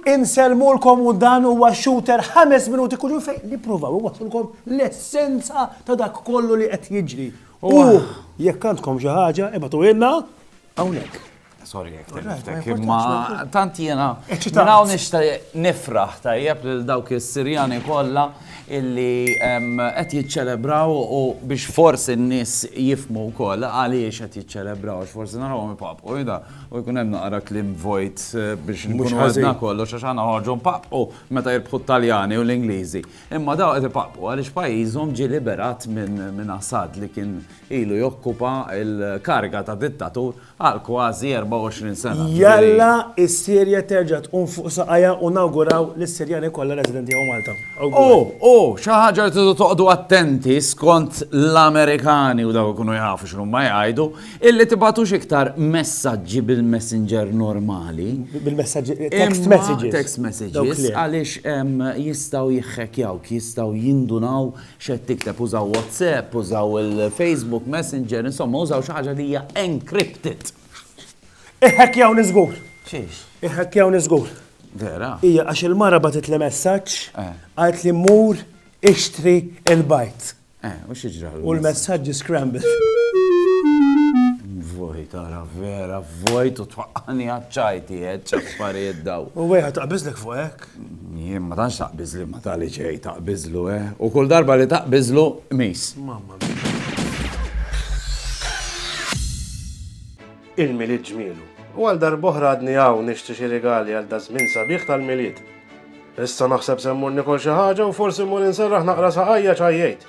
Insellmulkom u dan huwa shooter ħames minuti kull jum fejn nippruvaw iwasslulkom l-essenza ta' dak kollu li qed jiġri. U jekk għandkom xi ħaġa ibatuhilna hawnhekk. Sorry, jek teniftek, imma tant jena, naw nishta nifraħ tajjeb lil dawk is-Sirjani kollha illi qed jiċċelebraw u biex forsi n-nies jifmu wkoll għaliex qed jiċċelebraw għax forsi narahom ipap u jda u jkun hemm naqra klim vojt eh, biex mhux ħażna kollu għax aħna ħorġu u meta jirbħu t-Taljani u l-Ingliżi. Imma daw qed ipapqu għaliex pajjiżhom ġie liberat minn Assad li kien ilu jokkupa il-karga ta' dittatur Għal kważi 24 sena, ġifieri. Jalla s-Sirja terġa' tqum fuq saqajha u nawguraw lis-Sirjani kollha residenti hawn Malta. Awguri. U, u, xi ħaġa li tridu toqgħodu attenti, skont l-Amerikani u dawk ikunu jafu x'inhuma jgħidu, illi tibgħatux iktar messaġġi bil-messenger normali. Bil-messaġġi, text messages. Imma text messages għaliex jistgħu jihhekkjawk, jistgħu jindunaw X'qed tikteb, użaw WhatsApp, użaw il-Facebook Messenger, insomma użaw xi ħaġa li hija encrypted. Iħhekkjawni żgur. Xiex? Iħhekkjawni żgur. Vera? Ija, għax il-mara batit li messaġġ, eh. għalt li mur ixtri il-bajt. Eh, u xieġralu? U l-messaġġ scramble. Vojt, għara vera, vojt u twaqqani għadċajti, għed eh, ċaffariet daw. U għed, għabizlek fuqek. Jien ma tantx taqbiż li ma tali ġej taqbiżlu, eh? U kull darba li taqbiżlu mis. Mamma Il-milied ġmielu. U għal darboħra għadni hawn nixtri xi rigali għal da żmien sabiħ tal-milied. Issa naħseb se mmur nikol xi ħaġa u forsi mmur inserraħ naqra saqajja ċajjejt.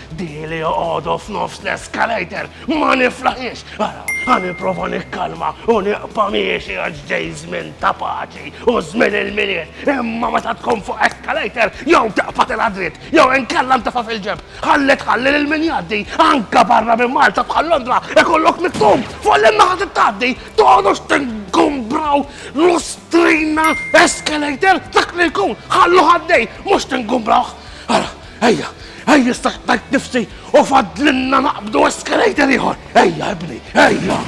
Di li joqogħdu f'nofs l-escalator ma niflaħiex. Ara, ħa nipprova nikkalma u niqpa miexi għax ġej żmien ta' paċi u żmien il-milied. Imma meta tkun fuq escalator jew taqpa' tilha dritt jew inkella ntefa' fil-ġenb. Ħalli tħalli lil min jgħaddi anke barra minn Malta bħal Londra ikollok miktub fuq liema ħa tittgħaddi. Toqgħodux tingumbraw lustrina, escalator, dak li jkun, ħalluh għaddej, mhux tingumbrawh. Ara, Ejja, ejja staqtajt nifsi u fadlinna naqbdu eskalator ieħor. Ejja, ibni, ejja!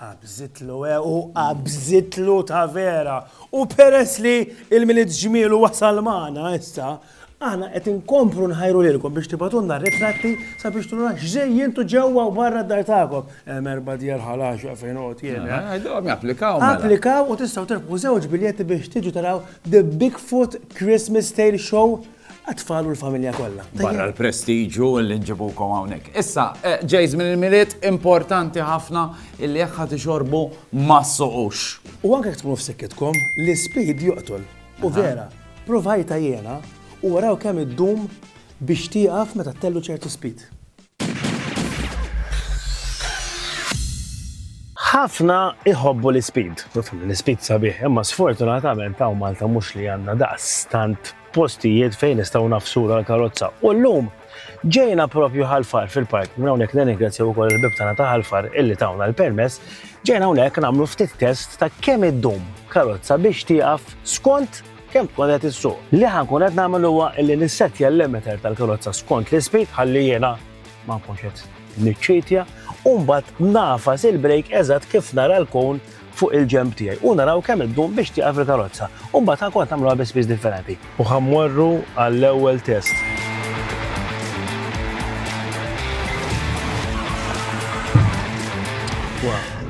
Abżitlu, e, u abżitlu ta' vera. U peress li il-miliet ġmielu wasal maħna issa, aħna qed inkomplu nħajru lilkom biex tibatunna ritratti sabiex tulna x'żej jintu ġewwa u barra d-dar tagħkom. Hemm erba' djar ħalax fejn qod jien. Applikaw. Mela. Applikaw u tistgħu terbħu żewġ biljetti biex tiġu taraw The Bigfoot Christmas Tale Show għat-tfal u l-familja kollha. Barra l-prestiġu li nġibukom hawnhekk. Issa, eh, ġejż minn il-miliet importanti ħafna illi jekk ħadd ixorbu ma ssuqux. U anke jekk tkunu f'sikkitkom, l-ispid joqtol. U vera, provajta jiena u waraw kemm iddum biex tieqaf meta tellu ċertu speed. Ħafna iħobbu l-ispid, l-ispid sabiħ, imma sfortunatament hawn Malta mhux li għandna daqs tant postijiet fejn nistgħu nafsura l-karozza. U llum ġejna propju ħalfar fil-park, minn hawnhekk nirringrazzjaw ukoll il-bib tagħna ta' ħalfar illi tawna l-permess, ġejna hawnhekk nagħmlu ftit test ta' kemm iddum karozza biex tieqaf skont kemm tkun qed issuq. Li ħa nkun qed nagħmel huwa li nissettja l-limiter tal-karozza skont l-ispeed ħalli jiena ma nkunx qed niċċitja u mbagħad nafas il-brejk eżatt kif nara l-kun fuq il-ġemp tiegħi u naraw kemm iddum biex tieqa fil-karozza. U mbagħad ħankun qed nagħmluha bi spiż differenti. U ħammorru għall-ewwel test. Wow.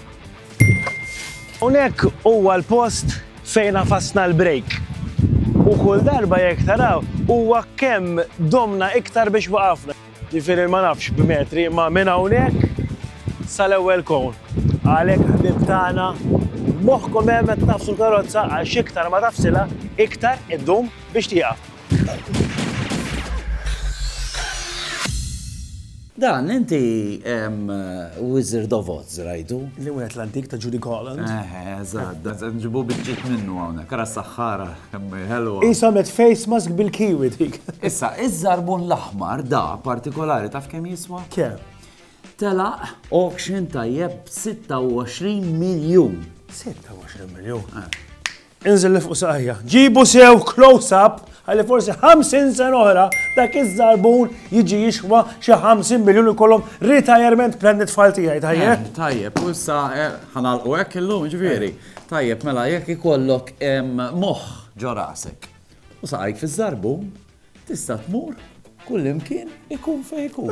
Unek huwa l-post fejn għafasna l-break. U kull darba jekk taraw huwa kemm domna iktar biex waqafna. Ġifieri ma nafx b'metri ma minn hawnhekk sal-ewwel kown. Għalhekk ħbieb tagħna moħħkom hemm qed tafsu l-karozza għax iktar ma tafsilha iktar iddum biex tieqaf. Dan inti Wizard of Oz rajtu? Li wieħed l-antik ta' Judy Garland. Eħe, eżatt, da nġibu biċċiet minnu hawnhekk, kara s-saħħara, ħelwa. Isa met face mask bil-kiwi dik. Issa, iż-żarbun l-aħmar da partikolari taf kemm jiswa? Kemm? Telaq auction tajjeb 26 miljun. 26 miljun? Eh. Inżel 'l fuq saqajja. Ġibu sew close up ħalli forsi 50 sena oħra dak iż-żarbun jiġi jixwa xi 50 miljun ikollhom retirement plan nitfall tiegħi tajjeb. Eh, tajjeb, u issa eh, ħanalqu hekk illum ġifieri. Tajjeb, mela jekk ikollok moħħ ġo rasek u saqajk fiż-żarbun tista' tmur kullimkien ikun fejn ikun.